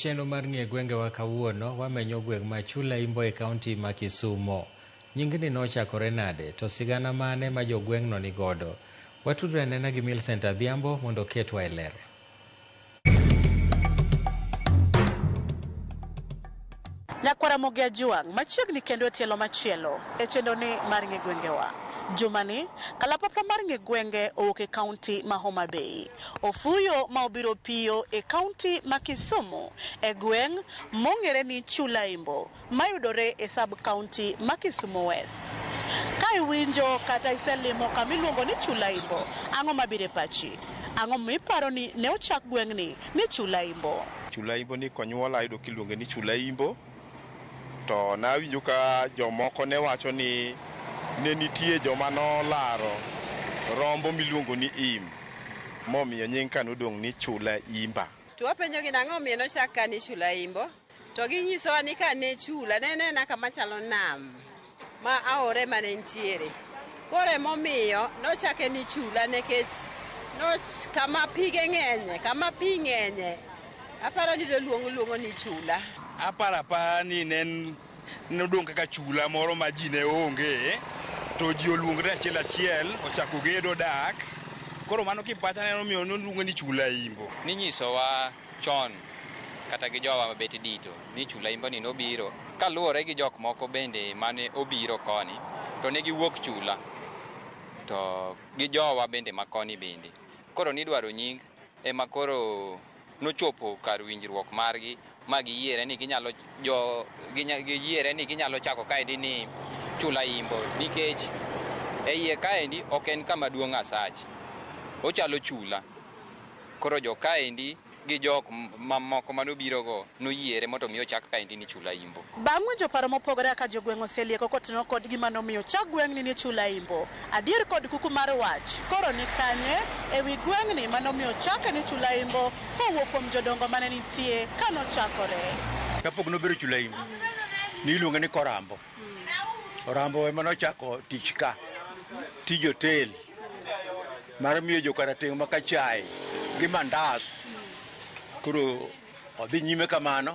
Chenro mar nie gwengewa kawuono wamenyo gweng' ma Chula Imbo e kaunti ma Kisumo. Nyingni nochakore nade, to sigana mane ma jogweng'no ni godo? Watudre anena gi Millicent Adhiambo mondo oketwa e ler. Nyakwara Mogi Ajuang' machiegni kendo e tielo machielo e chenroni mar Ng'e Gwengewa. Jumani, kalapapla mar Ng'e Gwenge owuok e kaunti ma Homa Bay. Ofuyo ma obiro piyo e kaunti ma Kisumu e gweng' mong'ere ni Chulaimbo mayudore e sub kaunti ma Kisumu West. Ka iwinjo kata iselimo kama iluongo ni Chulaimbo, ang'o mabiro e pachi? Ang'o momiyo iparo ni ne ochak gweng'ni ni Chulaimbo? Chulaimbo ni konyuola ayudo kiluonge ni Chulaimbo. To nawinjo ka jomoko ne wacho ni ne nitie joma nolaro rombo miluongo ni im, momiyo nying ka nodong' ni Chula Imba. To wapenjogi ni ang'o momiyo nochak ka ni Chula Imbo, to ginyisowa ni ka ne Chula ne en aena kama chalo nam. ma aore mane nitiere. Koro emomiyo nochake ni chula nikech noch kama pige ng'enye, kama pi ng'enye, aparo ni dholuongo luongo ni chula. Aparo apara ni ne en- nodong' kaka chula moro ma ji ne onge to ji oluongre achiel achiel ochako gedo dak koro mano kipacha ne omiyo noluonge ni chula imbo. Ninyisowa chon kata gi jowa mabet dito ni chula imbani nobiro kaluwore gi jok moko bende mane obiro koni to ne giwuok chula to gi jowa bende makoni bende koro nidwaro nying ema koro nochopo kar winjruok margi ma giyiere ni ginyalo jo giyiere ni ginyalo chako kaendi ni chula imbo nikech e iye kaendi ok en kama duong' asach ochalo chula Koro jo kaendi gi jok mamoko mane obirogo noyiere mondo omi ochak kaendi ni Chulaimbo. Bang' winjo paro mopogore kaka jogweng' oselieko kotenore kod gima nomiyo ochak gweng'ni ni Chulaimbo, adier kod kuku mar wach koro ni kanye e wi gweng'ni ma nomiyo ochake ni Chulaimbo kowuok kuom jodongo mane nitie kane ochakore. Kapok nobero Chulaimbo, ne iluonge ni Korambo. Orambo ema nochako tich ka tij hotel mar miyo jokarateng' maka chai gi mandas koro odhi nyime kamano